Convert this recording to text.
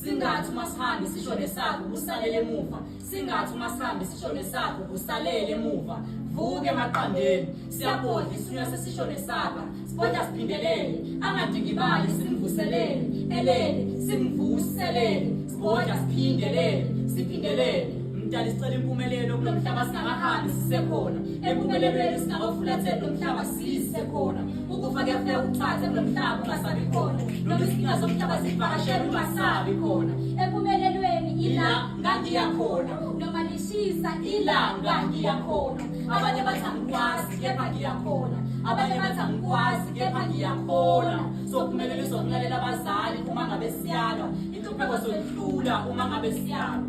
Singathi uma sihambe sisho nesakho kusalele emuva. Singathi uma sihambe sisho nesakho kusalele emuva. Vuke emaqandeni. Siyabhodla isinywa sesisho nesakho. Sibhodla siphindelele. Angadikibali simvuselele. Elele simvuselele. Sibhodla siphindelele. Siphindelele. Mdali sicela impumelelo kulo mhlaba singakahambi sisekhona. Empumelelweni singakafulatheli lo mhlaba sisekhona. ukufa kuyafika kuthathe kulo mhlaba ungasabi khona noma izinkinga zomhlaba zivakashela ungasabi khona empumelelweni ila ngangiya khona noma lishisa ila ngangiya khona abanye bathi angikwazi kepha ngiya khona abanye bathi angikwazi kepha ngiya khona sokuphumelelisa ukulalela abazali uma ngabe siyalwa inhlupheko zoyidlula uma ngabe siyalwa